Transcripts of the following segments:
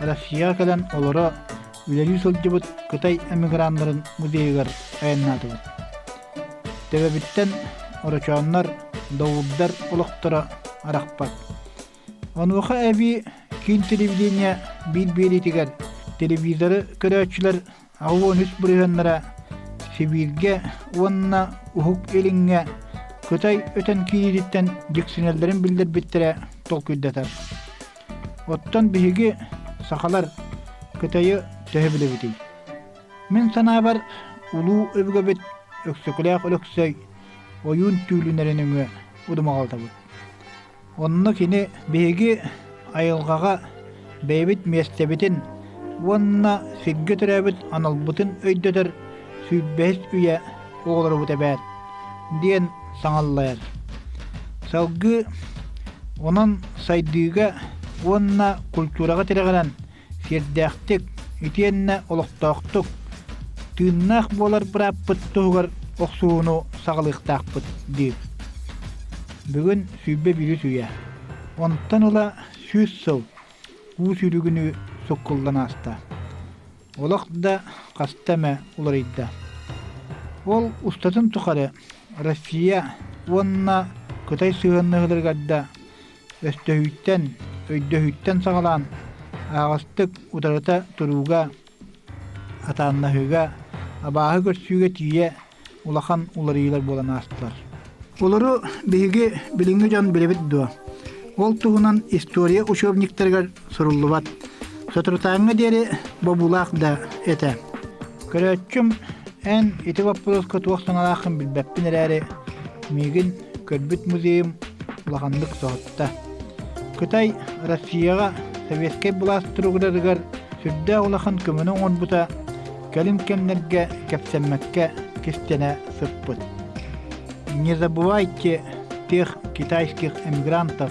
Россияҕа кэлэн олоро үлэлии сылдьыбыт Кытай эмиграннарын музейыгар айаннаатыбыт. Төбөбүттэн орочооннор, доуурдар олохторо арахпат. Онуоха эбии киин телевидение биир-биэриитигэр телевизоры көрөөччүлэр аһы уон үс бырыһыаннара Сибииргэ уонна Уһук Илиҥҥэ Кытай өтөн киириититтэн дьиксинэллэрин биллэрбиттэрэ толкуйдатар. Оттон биһиги, сахалар, Кытайы төһө билэбитий? Мин санаабар, улуу өбүгэбит Өксөкүлээх Өлөксөй ойуун түүлүнэрин өҥө удумаҕалтабыт. Онно кини биһиги айылҕаҕа бэйэбит миэстэбитин уонна сиргэ төрөөбүт аналбытын өйдөтөр сүүрбэһис үйэ оҕолорбут эбээт диэн саҥаллайар. Салгыы онон сайдыыга уонна культураҕа тирэҕирэн Сиэрдээхтик итиэннэ олохтоохтук, тыыннаах буолар бырааппыт туһугар охсууну саҕалыахтаахпыт диир. Бүгүн сүүрбэ биирис үйэ. Онтон ыла сүүс сыл уу сүүрүгүнүү суккуллан ааста. Олох да хаста эмэ уларыйда. Ол устатын тухары Россия уонна Кытай сыһыаннаһыыларыгар да Өстөһүттэн, өйдөһүттэн саҕалаан аҕастык утарыта турууга, атааннаһыыга, абааһы көрсүүгэ тиийэ улахан уларыйыылар буолан аастылар. Олору биһиги билиҥҥи дьон билэбит дуо? Ол туһунан история учебниктарыгар суруллубат. Сотрутааҥҥа диэри бобуулаах да этэ. Көрөөччүм, эн ити боппуруоска туох санаалааххын билбэппин эрээри, миигин көрбүт музейым улаханнык соһутта. Кытай Россияҕа Советскай былаас туругуратыгар сүрдээх улахан көмөнү оҥорбута кэлин кэмнэргэ кэпсэммэккэ кистэнэ сыппыт. Не забывайте тех китайских эмигрантов,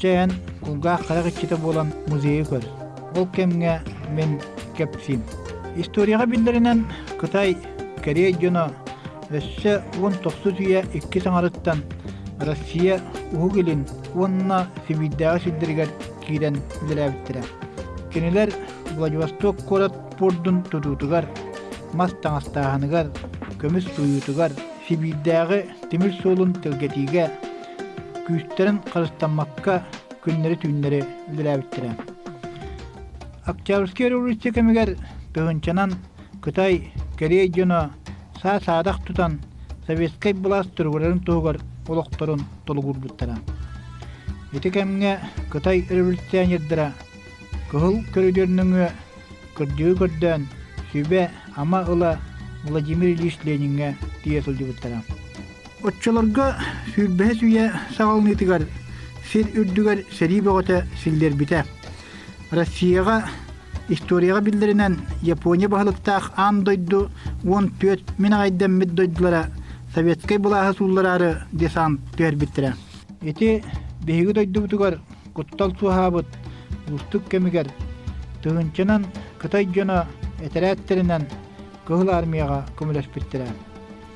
Чэ эн кулгаах харах иччитэ буолан музейы көр. Ол кэмҥэ мин кэпсиим. Историяҕа биллэринэн Кытай Корея дьоно өссө уон тохсус үйэ иккис аҥарыттан Россия Уһук Илин уонна Сибиирдээҕи сирдэригэр киирэн үлэлээбиттэрэ. Кинилэр Владивосток куорат пуордун тутуутугар, мас таҥастааһыныгар, көмүс туйуутугар, Сибиирдээҕи тимир суолун тэлгэтиигэ күүстэрин харыстаммакка күннэри-түүннэри үлэлээбиттэрэ. Октябрьскай революция кэмигэр тыһынчанан Кытай, Корея дьоно саа-саадах тутан советскай былаас туругурарын туһугар олохторун толугурбуттара. Ити кэмҥэ Кытай революционердара кыһыл көрүдүөрнүҥүө кырдьыы көрдөөн сүбэ-ама ыла Владимир Ильич Лениҥҥэ тиийэ сылдьыбыттара. Оччолорго сүүрбэһис үйэ саҕаланыытыгар сир үрдүгэр сэрии бөҕөтө силлэрбитэ. Россияҕа историяҕа биллэринэн Япония баһылыктаах аан дойду уон түөрт мин аҕайдаммыт дойдулара советскай былааһы сууллараары десант түһэрбиттэрэ. Ити биһиги дойдубутугар куттал суоһаабыт уустук кэмигэр тыһыынчанан Кытай дьоно этэрээттэринэн Кыһыл Армияҕа көмөлөспүттэрэ.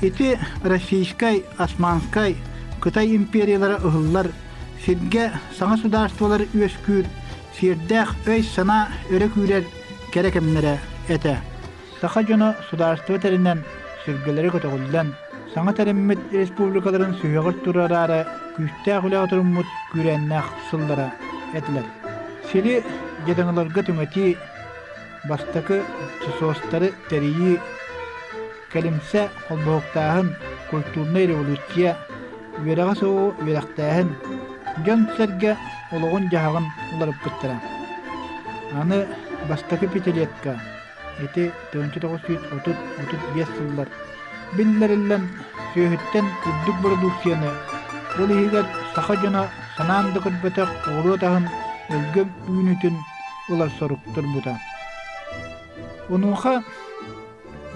Ити Российскай, Османскай, Кытай империялара ыһыллар сиргэ саҥа судаарыстыбалар үөскүүр сиэрдээх өй-санаа өрө күүрэр кэрэ кэмнэрэ этэ. Саха дьоно судаарыстыба тэринэн, сүргэлэри көтөҕүллэн, саҥа тэриммит республикаларын сүһүөҕэр турараары күүстээх үлэҕэ туруммут күүрээннээх сыллара этилэр. Сири дьадаҥыларга түҥэтии, бастакы сосуостары тэрийии кэлимсэ холбоһуктааһын культурнай революция үөрэҕэ суоҕу үөрэхтээһин дьон-сэргэ олоҕун-дьаһаҕын уларыппыттара аны бастакы пятилетка ити тыһыынча тоҕус сүүс отут отут биэс сыллар биллэриллэн сүөһүттэн үрдүк бородууксуйаны ол иһигэр саха дьоно санаан да көрбөтөх оҕуруот аһын өлгөм үүнүүтүн ылар сорук турбута. Онуоха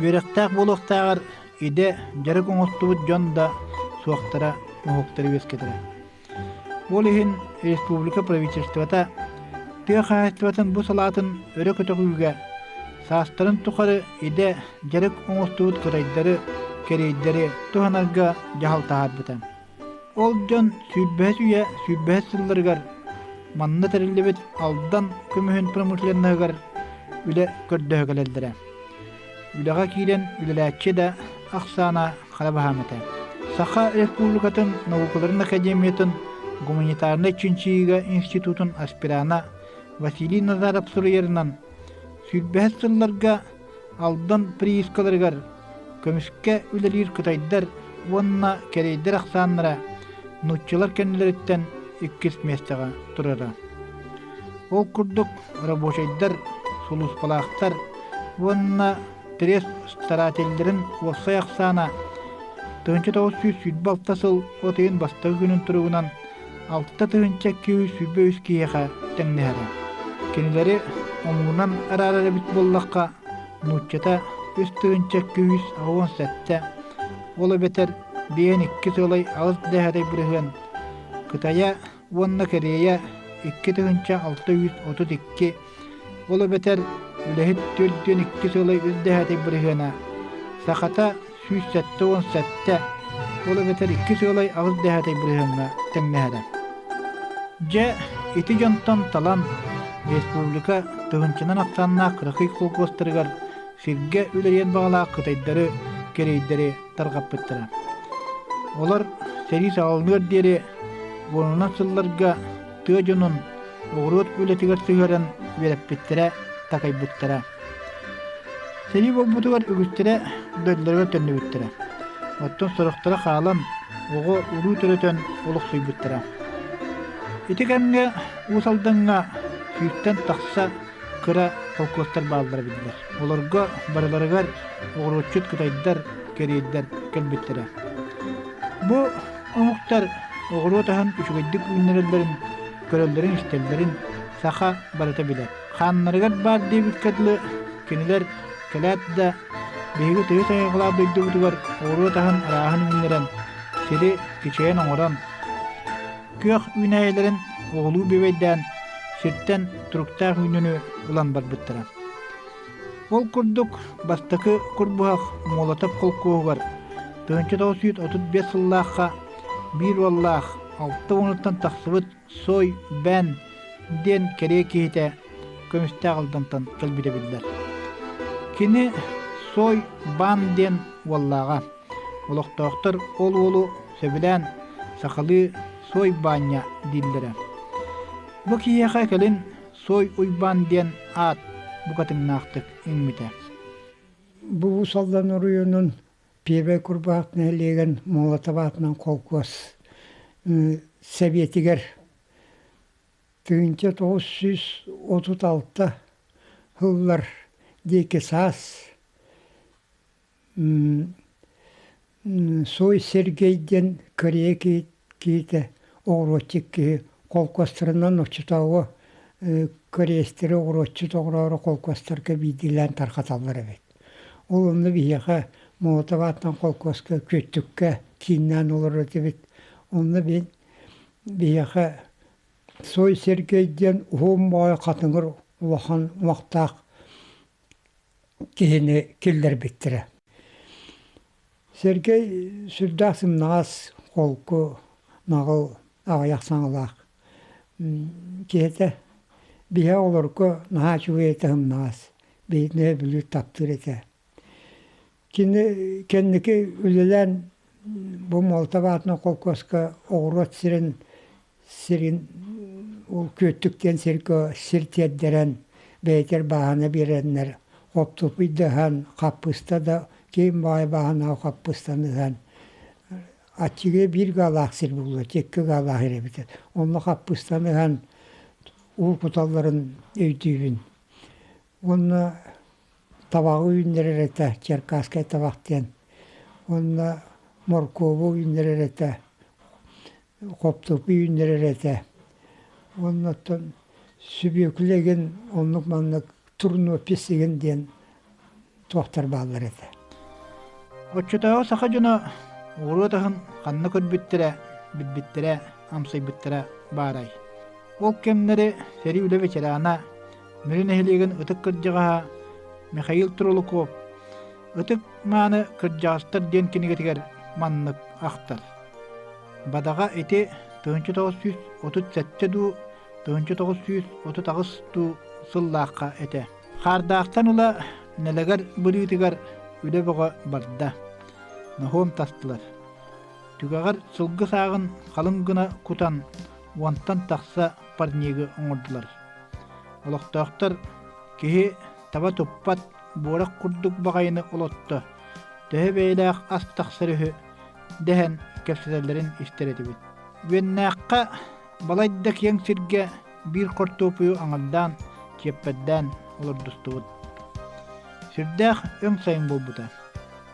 үөрэхтээх буолуохтааҕар идэ дьарык оҥостубут дьон да суохтара уһуктары үөскэтэрэ. Ол иһин республика правительствота тыа хаһаайыстыбатын бу салаатын өрө көтөҕүүгэ саастарын тухары идэ дьарык оҥостубут кытайдары кэриэйдэри туһанарга дьаһал таһаарбыта. Ол дьон сүүрбэһис үйэ сүүрбэһис сылларыгар манна тэриллибит Алдан көмүһүн промышленноһыгар үлэ көрдөһө кэлэллэрэ. Үлэҕэ киирэн үлэлээччи да ахсаана хара баһаам этэ. Саха Республикатын наукаларын академиятын гуманитарнай чинчийиигэ институтун аспирана Василий Назаров суруйарынан, сүүрбэһис сылларга Алдан приискаларыгар көмүскэ үлэлиир кытайдар уонна кэриэйдэр ахсааннара нууччалар кэннилэриттэн иккис миэстэҕэ турара. Ол курдук рабочайдар, сулууспалаахтар уонна пресс-старателлэрин уопсай ахсаана тыһыынча тоҕус сүүс сүүрбэ алта сыл от ыйын бастакы күнүн туругунан Алта тыһыынча киһи сүүрбэ киһиэхэ тэҥнэһэрэ. Кинилэри омугунан араара эбит буоллахха, нууччата үс тыһыынча күүс аҕыйах сэттэ, ол эбэтэр биээн икки сылай аҕыс дэһэрэй бырыһыан. Кытайа уонна Корея икки тыһыынча алта үс отут икки Ол эбэтэр үлэһит түөрт диэн иккис ыла үрдэһээтик бырыһыана сахата сүүс сэттэ уон сэттэ ол эбэтэр иккис ыалай аҕыс дэһээтэй бырыһыаҥҥа тэҥнэһэрэ. Дьэ, ити дьонтон талан республика тыһынчанан ахсааннаах кыракый колхозтарыгар сиргэ үлэлиэн баҕалаах кытайдары кэриэйдэри тарҕаппыттара. Олор сэрии саҕаланыар диэри уонунан сылларга тыа дьонун оҕуруот үлэтигэр сыһыаран үөрэппиттэрэ, такайбыттара. Сэрии буолбутугар үгүстэрэ дойдуларыгар төннүбүттэрэ. Оттон сорохторо хаалан, оҕо уруу төрөтөн олохсуйбуттара. Ити кэмҥэ Уус Алдаҥҥа сүүстэн тахса кыра холкуостар бааллара биллэр. Олорго барыларыгар оҕуруотчут кытайдар, кэриэйдэр кэлбиттэрэ. Бу Омуктар оҕуруот аһын үчүгэйдик үүннэрэллэрин көрөллөрүн-истэллэрин саха барыта билэр. Хааннарыгар баар диэбиккэ дылы, кинилэр кэлээт да биһиги тыйыс айылҕалаах дойдубутугар оҕуруот аһын арааһын үүннэрэн, сири кичэйэн оҥорон, күөх үүнээйилэрин оҕолуу бүөбэйдээн, сиртэн туруктаах үүнүөнү ылан барбыттара. Ол курдук, бастакы Курбуһах Молотов холкуоһугар тыһыынча тоҕус сүүс отут биэс сыллаахха биир уоллаах алта уонуттан тахсыбыт Сой Бэн диэн кэрэ киһитэ көмүстээх Алдантан кэлбитэ биллэр. Кини Сой Бан диэн уоллааҕа. Олохтоохтор ол уолу сөбүлээн сахалыы Сой Баанньа дииллэрэ. Бу киһиэхэ кэлин Сой Уйбаан диэн аат букатыҥнаахтык иҥмитэ. Бубусалдан оройуонун Пиэбэ Курбаах нэһилиэгин Молотоватынан холкуос сэбиэтигэр тыһыынча тоҕус сүүс отут алта сыллар диэки саас Суой Сергей диэн корея киһитэ оҕуруотчут киһи холкуостарынан оччотооҕу кореецтары оҕуруотчут оҕороору холкуостарга биирдиилээн тарҕаталлар эбит. Ол онно биһиэхэ молотов аатынан холкуоска, күөттүккэ кииннээн олорор этибит. Онно мин биһиэхэ Суой Сергей диэн уһун боҕой хатыҥыр улахан умахтаах киһини киллэрбиттэрэ. Сэргэй сүрдээх сымнаҕас, холку, наҕыл, аҕыйах саҥалаах киһитэ. Биһиэхэ олорго наһаа үчүгэй этэ сымнаҕас, биһигини өйөбүлү таптыыр этэ. Кини кэнники үлэлээн бу Молотов аатынан холкуоска оҕуруот сирин сирин ол Күөттүк диэн сиргэ сир тиэрдэрэн бэйэтигэр бааһына биэрэннэр оптупуйдаһан хаппыыста да киин баҕайы бааһынааҕы хаппыыстаны ыһан аччыгы биир гаалаах сир буллулар икки гаалаах ир эбитэ онно хаппыыстаны ыһан уу куталларын өйдүүбүн Уонна табаҕы үүннэрэр этэ, черкасскай табах диэн. Уонна моркуобу үүннэрэр этэ, хоптупу үүннэрэр этэ. Уонна оттон сүбүөкүлэ игин оннук-маннык турнопись игин диэн туохтар бааллар этэ. Оччотооҕу саха дьоно ууруот аһын ханна көрбүттэрэ, билбиттэрэ, амсайбыттара баарай? Ол кэмнэри сэрии үлэ ветерана Бүлүү нэһилиэгин ытык кырдьаҕаһа Михаил Трулуков «Ытык мааны кырдьаҕастар» диэн кинигэтигэр маннык ахтар. Бадаҕа ити 1937 дуу, 1930 дуу сыллаахха этэ. Хаардаахтан ыла Нэлэгэр Бүлүүтүгэр үлэ бөҕө барда. Ноһуом тастылар. Түгэҕэр сылгы сааҕын халыҥ гына кутан уонтан тахса парнигы оҥордулар. Олохтоохтор киһи таба туппат буорах курдук баҕайыны олотто, төһө бэйэлээх ас тахсар үһү дэһэн кэпсэтэллэрин истэр этибит. Үөннээххэ балайда киэҥ сиргэ биир хортуопуйу аҥардаан, чиэппэрдээн олордустубут. Сүрдээх өҥ сайын буолбута.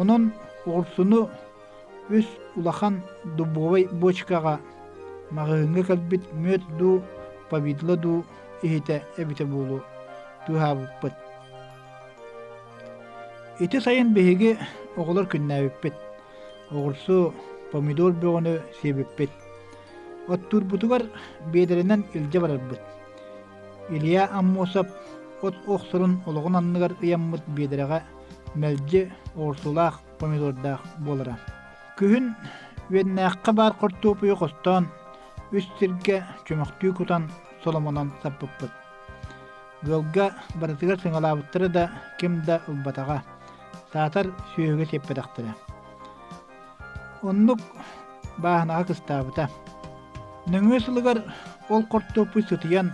Онон оҕурсуну үс улахан дубовай бочкаҕа маҕаһыыҥҥа кэлбит мүөт дуу, повидло дуу иһитэ эбитэ буолуо быыһаабыппыт. Ити сайын биһиги оҕолор күннээбиппит. Оҕурсу, помидор бөҕөнү сиэбиппит. Оттуурбутугар биэдэрэнэн илдьэ барарбыт. Илья Аммосов от охсорун олоҕун анныгар ыйаммыт биэдэрэҕэ мэлдьи ортолоох помидордаах буолара. Күһүн Үөннээххэ баар хортуопуйу хостоон, үс сиргэ чөмөхтүү кутан соломонон саппыппыт. Ыалга барытыгар сыҥалаабыттара да ким да ылбатаҕа, саатар сүөһүгэ сиппэтэхтэрэ. Оннук бааһынаҕа кыстаабыта. Нөҥүө сылыгар ол хортуоппуй сытыйан,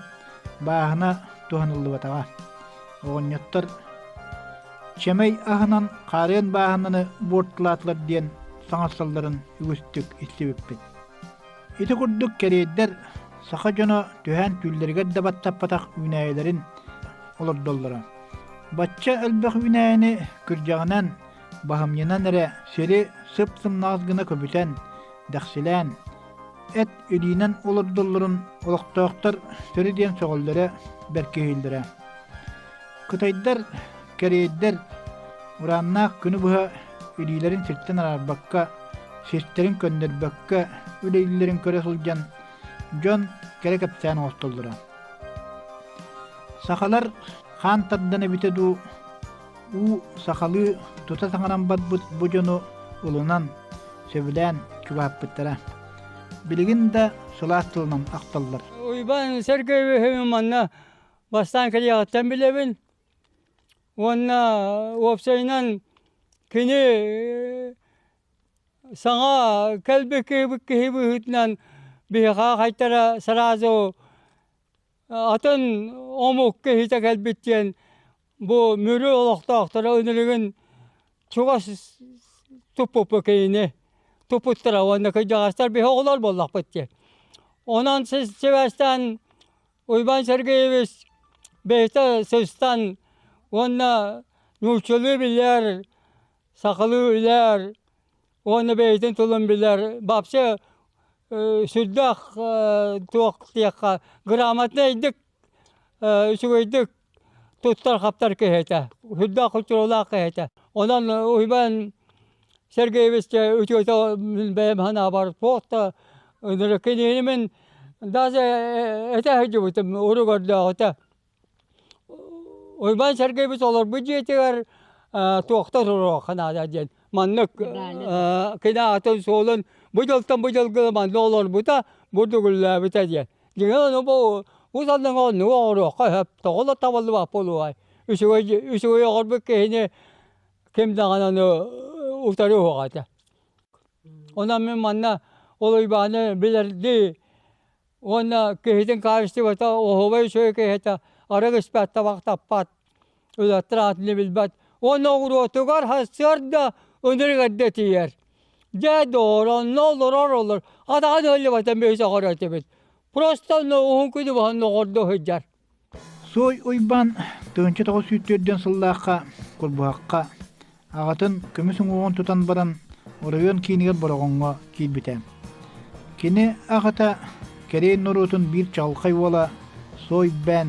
бааһына туһаныллыбатаҕа. Оҕонньоттор чэмэй аһынан хаарыан бааһынаны буортулаатылар диэн саҥарсалларын үгүстүк истибиппит. Ити курдук кэриэйдэр саха дьоно түһээн түүллэригэр да баттаппатах үүнээйилэрин олордоллоро. Бачча элбэх үүнээйини күрдьэҕинэн Баһымньынан эрэ сири сып-сымнаҕас гына көбүтэн, дэхсилээн, эт илиинэн олордоллорун олохтоохтор сөрү диэн сөҕөллөрө, бэркиһииллэрэ. Кытайдар, кэриэйдэр урааннаах күнү быһа илиилэрин сиртэн араарбакка, систэрин көннөрбөккө, үлэлииллэрин көрө сылдьан, дьон кэрэ кэпсээн оҥостоллоро. Сахалар хаан тардан эбитэ дуу, Уу сахалыы тута саҥаран барбыт бу дьону ылынан, сөбүлээн чугаһаппыттара. Билигин да сылаас тылынан ахталлар. Уйбаан Сергеевич манна бастаан кэлиэҕиттэн билэбин. Уонна уопсайынан кини саҥа кэлбит киһи быһыытынан биһиэхэ хайтара сразу Атын омук киһитэ кэлбит диэн бу Мүрү олохтоохторо үнүрүгүн чугас туппуппут киһини туппуттара уонна кырдьаҕастар биһи оҕолор буоллахпыт диэн. Онон сибээстээн Уйбаан Сергеевич бэйэтэ сыстан уонна нууччалыы билэр, сахалыы билэр, Уонна бэйэтин тылын билэр бабча сүрдээх туох диэххэ грамотнайдык, үчүгэйдик туттар-хаптар киһи этэ, сүрдээх хончуруолаах киһи этэ. Онон Уйбаан Сергеевичкэ үтүөтэ бэйэм санаабар туох да кинини мин даже этэ сылдьыбытым урук өрдөөҕүтэ. Уйбаан Сэргэйбит олорбут дьиэтигэр туохтан суруохха наада диэн маннык кынаатын суолун бу дьылтан бу дьылга манна олорбута бурдугүллээбитэ диэн. Дьиҥэ аны бу бу санаҥа оннугу оҥоруохха сөп тоҕо да табыллыбат буолуой үчүгэй үчүгэй оҥорбут киһини ким даҕаны аны утары уһуох этэ. Онон мин манна ол Уйбааны билэрдии Уонна киһитин хаачыстыбата оһуобай үчүгэй киһитэ арыгы испэт табах таппат, үлэттэр аатыны билбэт. Уонна оҕуруотугар сарсыарда үнүрүгэрдэ тиийэр. Дьэ дооронно олорор олор, атаҕа да ыллыбатан биһи сөҕөр этибит. Просто уһун күнү баһан оҕордо сылдьар. Суой Уйбаан Тыһыынча тоҕус сүүс түөртүөн сыллаахха Курбуһахха аҕатын көмүс уҥуоҕун тутан баран оройуон киинигэр Бороҕоҥҥо киирбитэ. Кини аҕата кэриэй норуотун биир чаҕылхай уола Суойбээн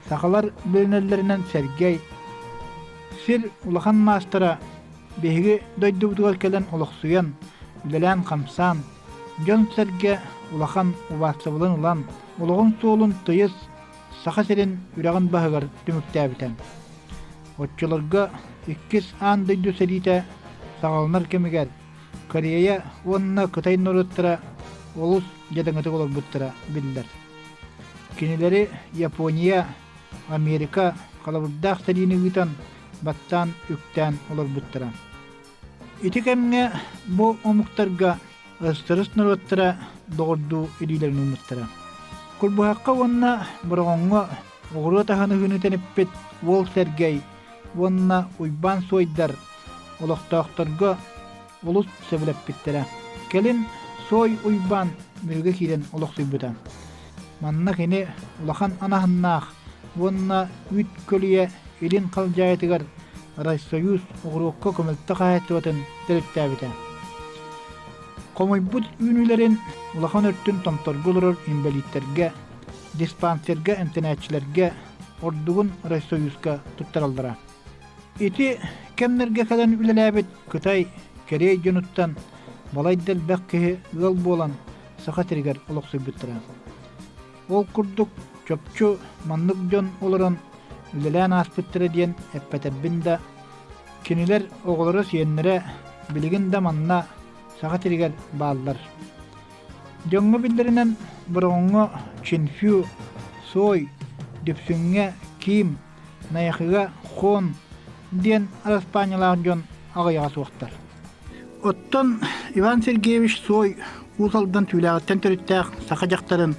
сахалар үөрэнэллэринэн Сэргэй сир улахан маастара биһиги дойдубутугар кэлэн олохсуйан, үлэлээн-хамсаан Дьон-сэргэ улахан убаастабылын ылан, олоҕун суолун тыйыс Саха сирин үрэҕин баһыгар түмүктээбитэ. Оччолорго иккис аан дойду сэриитэ саҕаланар кэмигэр Корея уонна Кытай норуоттара олус дьадаҥытык олорбуттара биллэр. Кинилэри Япония, Америка халабырдаах сэриини ыытан, баттаан-үктээн олорбуттара. Ити кэмҥэ бу омуктарга ыстырыс норуоттара доҕордуу илиилэрин ылбыттара. Курбуһахха уонна Бороҕоҥҥо оҕуруот аһыныһыыны тэниппит уол Сэргэй уонна Уйбаан Суойдар олохтоохторго олус сөбүлэппиттэрэ. Кэлин Суой Уйбаан биһиги киирэн олохсуйбута. Манна кини улахан анаһыннаах уонна үүт көлүйэ Илин Халдьаайытыгар Райсоюз уҕуруокка көмөлтө хаһаайыстыбатын төрүттээбитэ. Хомуйбут үүнүүлэрин улахан өртүн томторго олорор инбэлииттэргэ, диспансерга эмтэнээччилэргэ, ордугун Райсоюзка туттараллара. Ити кэмнэргэ кэлэн үлэлээбит Кытай, Корея дьонуттан балайда элбэх киһи ыал буолан Саха сиригэр олохсуйбуттара. Ол курдук чопчу маннык дьон олорон үлэлээн ааспыттара диэн эппэтэрбин да, кинилэр оҕолоро-сиэннэрэ билигин да манна Саха сиригэр бааллар. Дьоҥҥо биллэринэн Бороҕоҥҥо Чинфю, Сой, Дүпсүҥҥэ Ким, Найахыга Хон диэн араспаанньалаах дьон аҕыйаҕа суохтар. Оттон Иван Сергеевич Суой Уус Алдан түүлээҕиттэн төрүттээх саха дьахтарын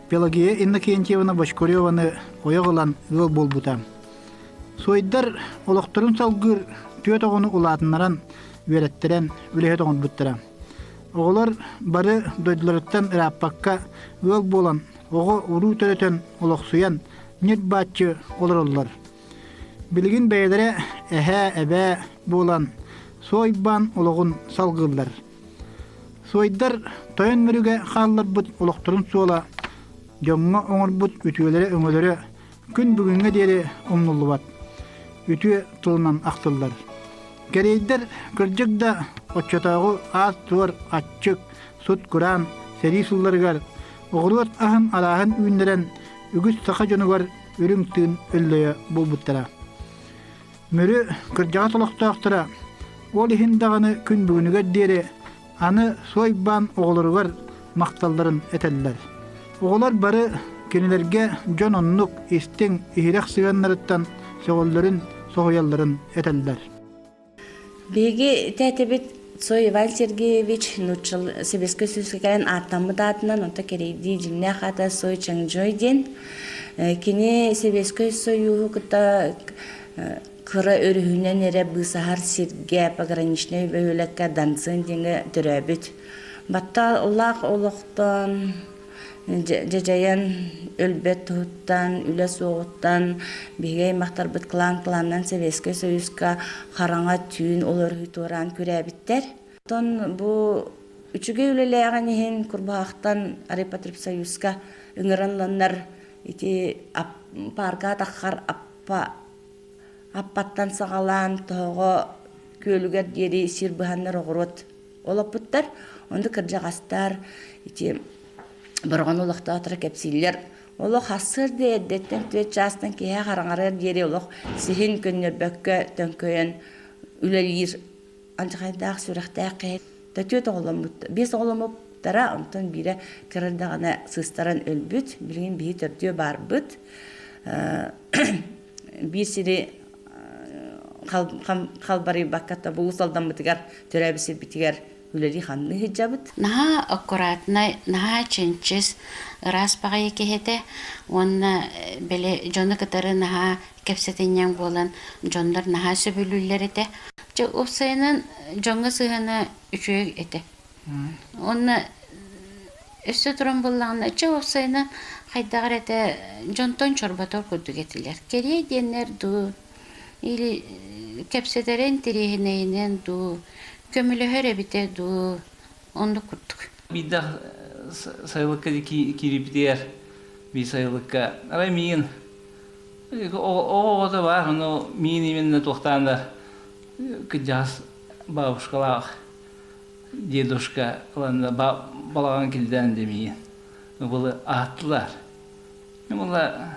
Пелагея Иннокентьевна Бочкареваны ойох ылан ыал буолбута. Суойдар олохторун салгыыр түөрт оҕону улаатыннаран, үөрэттэрэн, үлэһит оҥорбуттара. Оҕолор бары дойдуларыттан ырааппакка ыал буолан оҕо уруу төрөтөн олохсуйан ньир-бааччы олороллор. Билигин бэйэлэрэ эһээ, эбээ буолан суойбаан олоҕун салгыыллар. Суойдар тойон мөрүгэ хаалларбыт олохторун суола дьоҥҥо оҥорбут үтүөлэрэ-өҥөлөрө Күн бүгүҥҥэ диэри умнуллубат, үтүө тылынан ахтыллар. Кэриэйдэр кырдьык да оччотооҕу аас-туор аччык, сут-кураан сэрии сылларыгар оҕуруот аһын арааһын үүннэрэн үгүс саха дьонугар үрүҥ тыын өллөйө булбуттара. Мүрү кырдьаҕас олохтоохторо ол иһин даҕаны күн бүгүнүгэр диэри Аны Суойбаан оҕолоругар махталларын этэллэр. Оҕолор бары кинилэргэ дьон оннук истиҥ, иһирэх сыһыаннарыттан сөҕөллөрүн, соһуйалларын этэллэр. Биһиги тээтэбит Сой Иван Сергеевич нуччал сэбиэскэй сүүскэ кэлэн ааттаммыт аатынан онто кэрэйдии дьиҥнээх аата Сой Чангжой диэн. Кини Сэбиэскэй Союһу кытта Кыра өрүһүнэн эрэ быысаһар сиргэ, пограничнай бөһүөлэккэ Дансен диэҥҥэ төрөөбүт. Батталлаах олохтоон, дьадьайан өлбөт туһуттан, үлэ суоҕуттан биһиги аймахтарбыт клан кланынан Советскай Союзка хараҥа түүн олоруу туораан күрээбиттэр. Оттон бу үчүгэй үлэлээҕин иһин Курбаахтан Райпотребсоюзка ыҥырылланнар ити паарка атаххар аппа Аппаттан саҕалаан тоһоҕо күөлүгэр диэри сир быһаннар оҕуруот олоппуттар. Ону кырдьаҕастар ити Бороҕон олохтоохторо кэпсииллэр. Олох сарсыарда эрдэттэн түөрт чаастан киэһэ хараҥарыар диэри олох сиһин көннөрбөккө төҥкөйөн үлэлиир алдьархайдаах сүрэхтээх киһи да түөрт оҕоломмут биэс оҕоломмуттара онтон биирэ кыра эрдэҕинэ сыыстаран өлбүт билигин биһи төрдүө баарбыт биир сири халбарыйбакка тобулус алдаммытыгар төрөөбүт сирбитигэр үлэлии ханны сылдьабыт наһаа аккуратнай наһаа чинчис ыраас баҕайы киһитэ уонна бэлэ дьону кытары наһаа кэпсэтинньэҥ буолан дьоннор наһаа сөбүлүүллэр этэ. Дьэ, уопсайынан дьоҥҥо сыһыана үчүгэй этэ. Уонна өссө туран буоллаҕына, дьэ уопсайынан хайдах эрэ дьонтон чорботор курдук этилэр. Кэриэй диэннэр дуу, или кэпсэтэрэ интэриэһинэйинэн дуу, көмөлөһөр эбитэ дуу, Ондук курдук. Биирдэ сайылыкка киирбитигэр би сайылыкка арай миин оҕото бар ну миин именно туохтаан да кырдьаҕас бабушкалаах дедушка ыланна балаҕан килдään демиин былы ааттылар была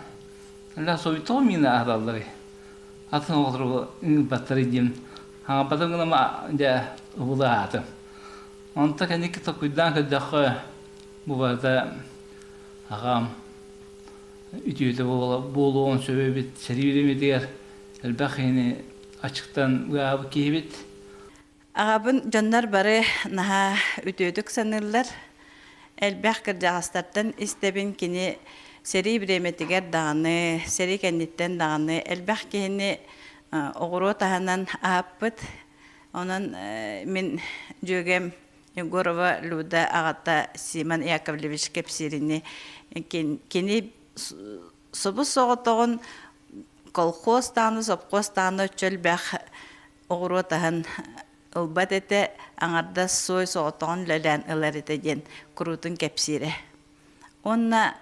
la soyutoo mina ahdalları атын оҕолору баттары диэн хаҥаппатын гына дя убула аатым Онто кэнники токуйдаан көрдөххө, бу барыта аҕам үтүөтэ буолуон сөп эбит сэрии үлэмитигэр элбэх киһини аччыктан ыаабыт киһибит. Аҕабын дьоннор бары наһаа үтүөтүк саныыллар. Элбэх кырдьаҕастартан истэбин кини сэрии бириэмэтигэр даҕаны, сэрии кэнниттэн даҕаны элбэх киһини оҕуруот аһынан аһаппыт, Онон мин дьүөгэм Егорова Люда аҕата Симон Яковлевич кэпсиирини кини субус соҕотоҕун колхоз тааны сопхуос тааны чөлбөх оҕуруот аһын ылбат этэ аҥардас соой соҕотоҕун лөлөөн ылар этэ диэн куруутун кэпсиирэ уонна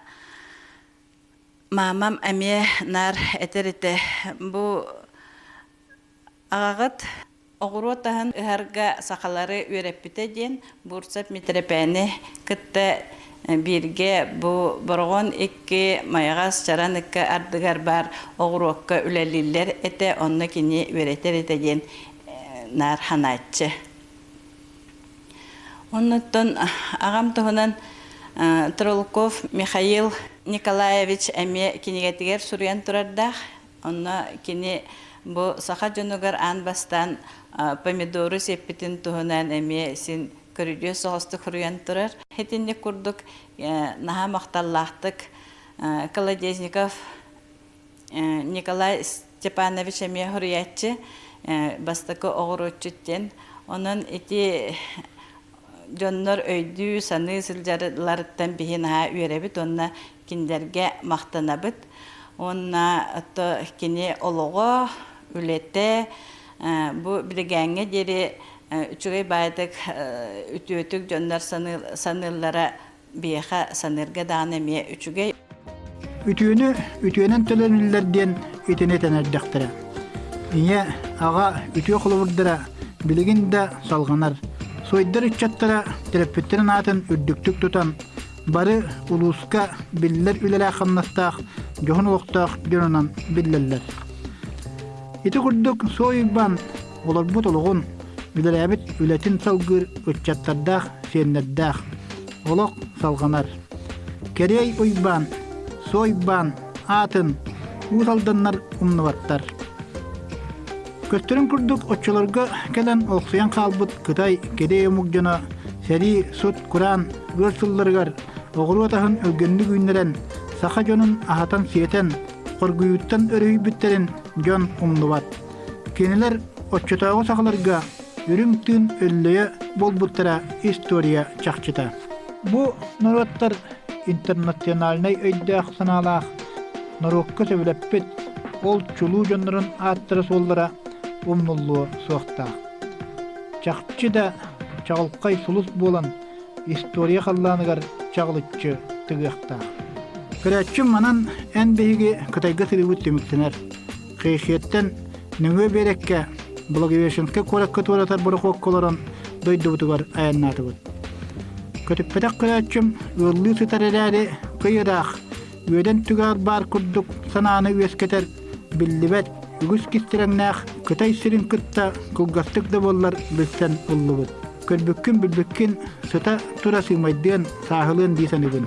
маамам эмиэ наар этэр этэ бу Аҕаҕыт оҕуруот аһын ыһарга сахалары үөрэппитэ диэн Бурцев Митрепэни кытта бииргэ бу Бороҕон икки Майаҕас Чаран ыкка ардыгар баар оҕуруокка үлэлииллэр этэ, онно кини үөрэтэр этэ диэн наар ханааччы. Оннуттан аҕам туһунан Тролков Михаил Николаевич эмиэ кинигэтигэр суруйан турардаах Онно кини бу саха дьонугар аан бастаан помидору сиэппитин туһунан эмиэ син көрүдүөс соҕустук хоруйан турар. Итинник курдук наһаа махталлаахтык Колодезников Николай Степанович эмиэ хоруйааччы бастакы оҕуруотчут диэн. Онон ити дьоннор өйдүү-саныы сылдьалларыттан биһи наһаа үөрэбит уонна кинилэргэ махтанабыт. Уонна ото кини олоҕо, үлэтэ бу билигээҥҥэ диэри үчүгэй баайдык үтүөтүк дьоннор саныыллара биэхэ саныырга даҕаны эмиэ үчүгэй. Үтүөнү үтүөнэн төлөнүллэр диэн итини тэнэрдэхтэрэ. Ийэ, аҕа үтүө холобурдара билигин да салҕанар. Сойдар ыччаттара төрөппүттэрин аатын үрдүктүк тутан, бары улууска биллэр үлэлээх-хамнастаах дьоһун олохтоох дьонунан биллэллэр. Ити курдук Суой Уйбаан Олорбут олоҕун, үлэлээбит үлэтин салгыыр ыччаттардаах, сиэннэрдээх. Олох салҕанар. Кэрэй Уйбаан, Суойбаан аатын Уус Алданнар умнубаттар. Көстөрүн курдук оччолорго кэлэн олохсуйан хаалбыт Кытай кирэй омук дьоно сэрии, сут-кураан ыар сылларыгар оҕуруот аһын өлгөннүк үүннэрэн саха дьонун аһатан-сиэтэн, хоргуйууттан өрүһүйбүттэрин дьон умнубат. Кинилэр оччотооҕу сахаларга үрүҥ тыын өллөйө буолбуттара история чахчыта. Бу норуоттар интернациональнай өйдөөх-санаалаах, норуокка сөбүлэппит, ол чулуу дьоннорун ааттара-суоллара умнуллуо суохтаах. Чахчы да чаҕылхай сулус буолан, история халлааныгар чаҕылыччы тыгыахтаах. Көрөөччүм манан эн биһиги Кытайга сырыыбыт түмүктэнэр. Хэйхиэттэн нөҥүө биэрэккэ Благовещенскай куоракка туоратар борохуокка олорон дойдубутугар айаннаатыбыт. Көтүппэтэх көрөөччүм ыаллыы сытар эрээри кый ыраах, үөдэн түгэҕэр баар курдук санааны үөскэтэр биллибэт үгүс кистирэҥнээх Кытай сирин кытта кылгастык да буоллар билсэн ыллыбыт. Көрбүккүн-билбиккин сыта тура сыымайдыан, сааһылыан дии саныыбын.